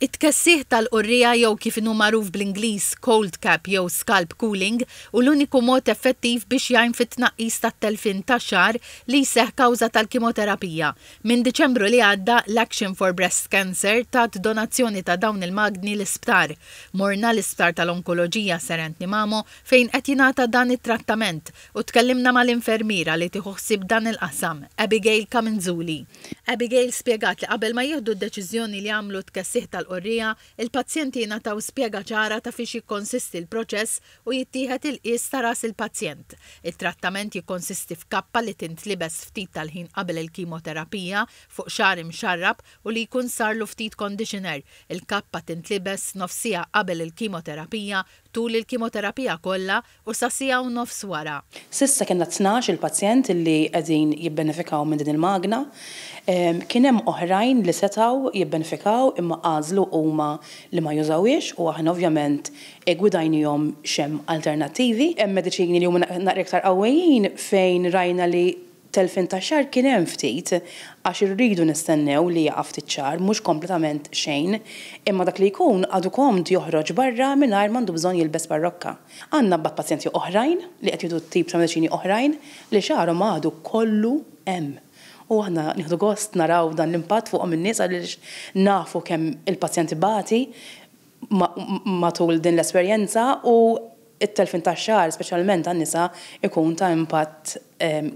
It-tkessiħ tal-qurriegħa jew kif inhu magħruf bl-Ingliż cold cap jew scalp cooling hu l-uniku mod effettiv biex jgħin fit-tnaqqis tat-telfien ta' xagħar li jseħħ kawża tal-kimoterapija. Minn Diċembru li għadda, l-Action for Breast Cancer tat donazzjoni ta' dawn il-magni l-isptar. Morna l-Isptar tal-Onkoloġija Sir Anthony Mamo fejn qed jingħata dan it-trattament u tkellimna mal-infermiera li tieħu ħsieb dan il-qasam, Abigail Camenzuli. Abigail spjegat li qabel ma jieħdu d-deċiżjoni li jagħmlu t-tkessiħ tal-qorrija, il-pazjenti jingħataw spjega ċara ta' fiex jikkonsisti l-proċess u jittieħed il-qies ta' ras il-pazjent. It-trattament jikkonsisti f'kappa li tintlibes ftit tal-ħin qabel il-kimoterapija fuq xagħar imxarrab u li jkun sarlu ftit conditioner. Il-kappa tintlibes nofs siegħa qabel il-kimoterapija, tul il-kimoterapija kollha, u sa siegħa u nofs wara. S'issa kellna tnax il-pazjent li qegħdin jibbenefikaw minn din il-magna. Kien hemm oħrajn li setgħu jibbenefikaw imma għażlu huma li ma jużawhiex u aħna ovvjament iggwidajniehom x'hemm alternattivi. Hemm mediċini li huma naqra iktar qawwijin fejn rajna li Telfien ta' xahar kien hemm ftit, għax irridu nistennew li jaqa' ftit xahar, mhux kompletament xejn, imma dak li jkun għadu komd joħroġ barra mingħajr m'għandu bżonn jilbes parrokka. Għandna mbagħad pazjenti oħrajn li qed jieħdu tip ta' mediċini oħrajn li xaharhom għadu kollu hemm. U aħna nieħdu gost naraw dan l-impatt fuqhom in-nies għaliex nafu kemm il-pazjent ibati matul din l-esperjenza u t-telfien tax-xagħar, speċjalment għan-nisa, ikun ta' impatt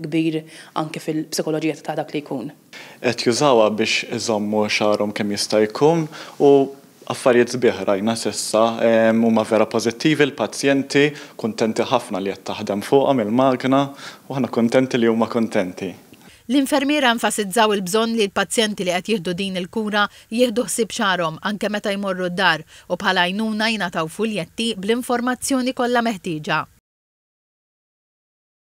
kbir anki fil-psikoloġija ta' dak li jkun. Qed jużawha biex iżommu xagħarhom kemm jista' jkun u affarijiet sbieħ rajna s'issa. Huma vera pożittivi l-pazjenti, kuntenti ħafna li qed taħdem fuqhom il-magna u aħna kuntenti li huma kuntenti. L-infermiera enfasizzaw il-bżonn li l-pazjenti li qed jieħdu din il-kura jieħdu ħsieb xagħarhom anke meta jmorru d-dar u bħala għajnuna jingħataw fuljetti bl-informazzjoni kollha meħtieġa.